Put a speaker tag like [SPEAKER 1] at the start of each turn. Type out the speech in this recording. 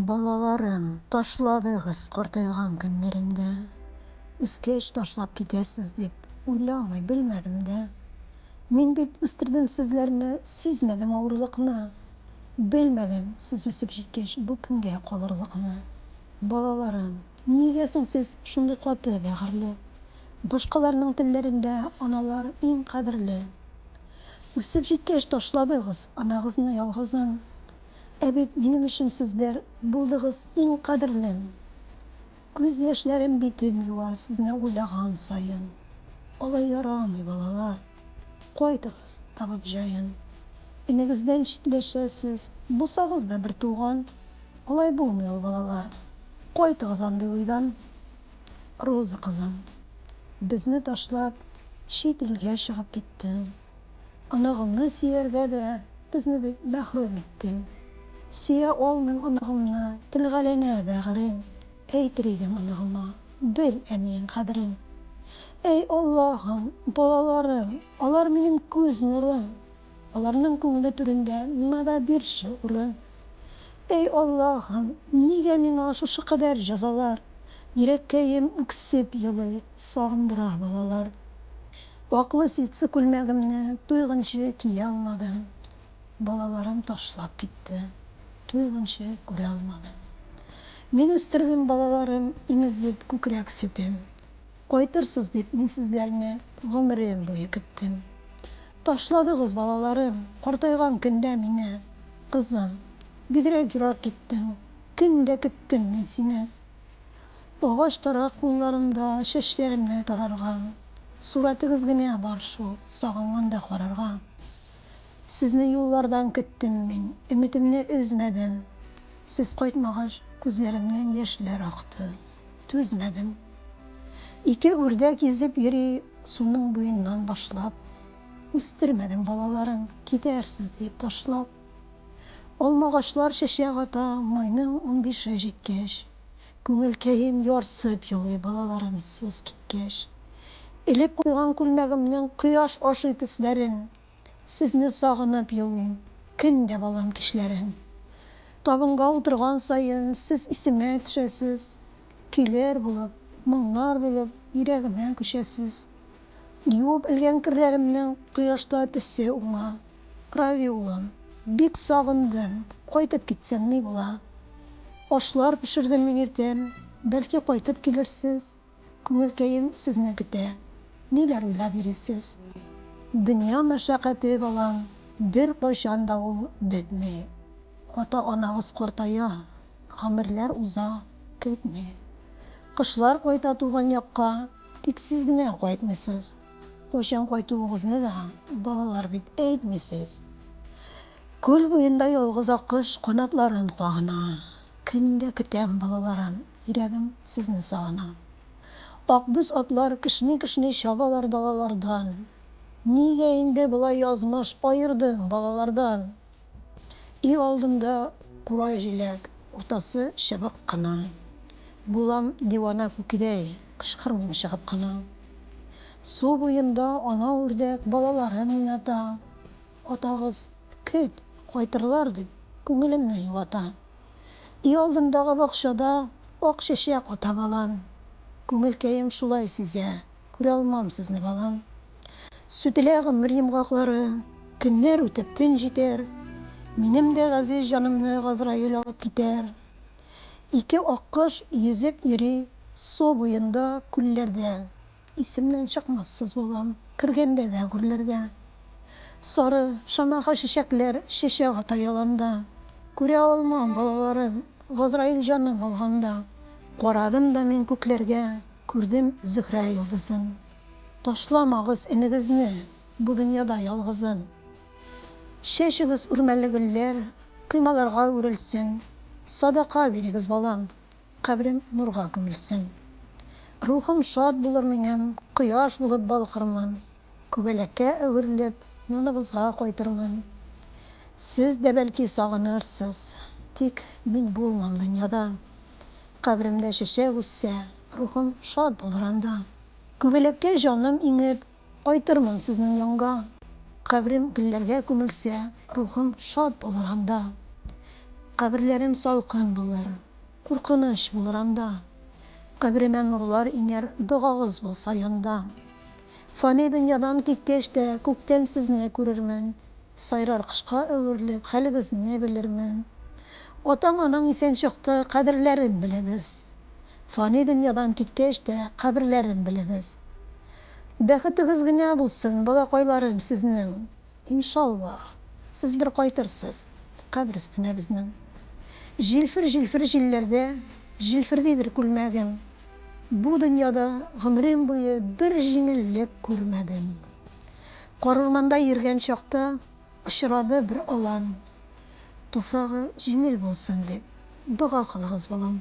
[SPEAKER 1] Балаларын ташладыгыз картайган көннәремдә, үскәч ташлап китәрсез дип уйламый белмәдем дә. Мин бит үстердем сезләрне, сизмәдем авырлыкны. Белмәдем сез үсеп җиткәч бу көнгә калырлыкны. Балаларым, нигә соң сез шундый каты бәгырьле? Башкаларның телләрендә аналар иң кадерле. Үсеп җиткәч ташладыгыз анагызны ялгызын. Ә бит минем өчен сезләр булдыгыз иң кадерлем. Күз яшьләрем битем юа сезне уйлаган саен. Алай ярамый, балалар. Кайтыгыз, табып җаен. Энегездән читләшәсез, булсагыз да бертуган. Алай булмый ул, балалар. Кайтыгыз андый уйдан. Роза кызым, безне ташлап, чит илгә чыгып киттең. Оныгыңны сөяргә дә безне бит мәхрүм иттең. Сөя алмыйм оныгымны, телгәләнә бәгырем, Әйтер идем оныгыма, бел әниең кадерен. Әй Аллаһым, балаларым, алар минем күз нурым. Аларның күңеле түрендә миңа да бирче урын. Эй Аллаһым, нигә миңа шушы кадәр җәзалар? Йөрәккәем үксеп елый, сагындыра балалар. Ваклы ситсы күлмәгемне туйгынчы кия алмадым. Балаларым ташлап китте, туйгынчы күрә алмадым. Мин үстердем балаларым, имезеп күкрәк сөтем. Кайтырсыз дип мин сезләрне гомерем буе көттем. Ташладыгыз, балаларым, картайган көндә мине. Кызым, бигрәк ерак киттең, көн дә көттем мин сине. Агач тарак кулларымда чәчләремне тарарга, сурәтегез генә бар шул, сагынганда карарга. Сезне юллардан көттем мин, өметемне өзмәдем. Сез кайтмагач, күзләремнән яшьләр акты. Түзмәдем. Ике үрдәк изеп йөри суның буеннан башлап. Үстермәдем балаларын, китәрсез диеп ташлап. Алмагачлар чәчәк ата майның унбише җиткәч. Күңелкәем ярсып елый балаларым сез киткәч. Элеп куйган күлмәгемнең кояш ашый төсләрен Сезне сагынып елыйм Көн дә балам кичләрен. Табынга утырган саен Сез исемә төшәсез. Көйләр булып, моңнар бөлеп Йөрәгемә күчәсез. Юып элгән керләремнең Кояшта төсе уңа. Рави улым, бик сагындым, Кайтып китсәң ни була? Ашлар пешердем мин иртән, Бәлки кайтып килерсез? Күңелкәем сезне көтә. Ниләр уйлап йөрисез? Дөнья мәшәкате балам, беркайчан да ул бетми. Ата-анагыз картая, гомерләр уза, көтми. Кышлар кайта туган якка, тик сез генә кайтмыйсыз. Кайчан кайтуыгызны да балалар бит әйтмисез. Күл буенда ялгыз аккош канатларын кагына. Көн дә көтәм, балаларым. Йөрәгем сезне сагына. Акбүз атлар кешни-кешни чабалар далалардан. Нигә инде болай язмыш аердың балалардан? Өй алдында курай җиләк, уртасы чыбык кына. Булам дивана күкидәй, кычкырмыйм чыгып кына. Су буенда ана үрдәк балаларын уйната. Атагыз, көт, кайтырлар, дип, күңелемне юата. Өй алдындагы бакчада ак чәчәк ата балам. Күңелкәем шулай сизә, күрә алмам сезне, балам. Сүтелә гомер йомгаклары, көннәр үтеп, төн җитәр, минем дә газиз җанымны Газраил алып китәр. Ике аккош йөзеп йөри су буенда, күлләрдә. Исемнән чыкмассыз булам. Кергәндә дә гүрләргә. Сары, шамаха чәчәкләр Чәчәк ата яланда. Күрә алмам балаларын Газраил җаным алганда. Карадым да мин күкләргә, Күрдем Зөһрә йолдызын. Ташламагыз энегезне Бу дөньяда ялгызын. Чәчегез үрмәле гөлләр, Коймаларга үрелсен. Садака бирегез, балам. Кабрең нурга күмелсен. Рухың шат булыр минем, Кояш булып балкырмын, Күбәләккә әверелеп, Яныбызга кайтырмын. Сез дә бәлки сагынырсыз, Тик мин булмам дөньяда. Кабремдә чәчәк үссә, Рухым шат булыр анда. Күбәләккә җаным иңеп, Кайтырмын сезнең янга. Кабрем гөлләргә күмелсә, Рухым шат булыр анда. Каберләрем салкын булыр, Куркыныч булыр анда. Кабремә нурлар иңәр, Догагыз булса янда. Фани дөньядан киткәч тә, Күктән сезне күрермен. Сайрар кошка әверелеп, Хәлегезне белермен. Атаң-анаң исән чакта, Кадерләрен белегез. Фани дөньядан киткәч тә, Каберләрен белегез. Бәхетегез генә булсын, балакайларым, сезнең, иншаллаһ, сез бер кайтырсыз кабер өстенә безнең. Җилфер-җилфер җилләрдә җилфердидер күлмәгем. Бу дөньяда гомерем буе бер җиңеллек күрмәдем. Карурманда йөргән чакта очрады бер алан. Туфрагы җиңел булсын дип дога кылыгыз, балам.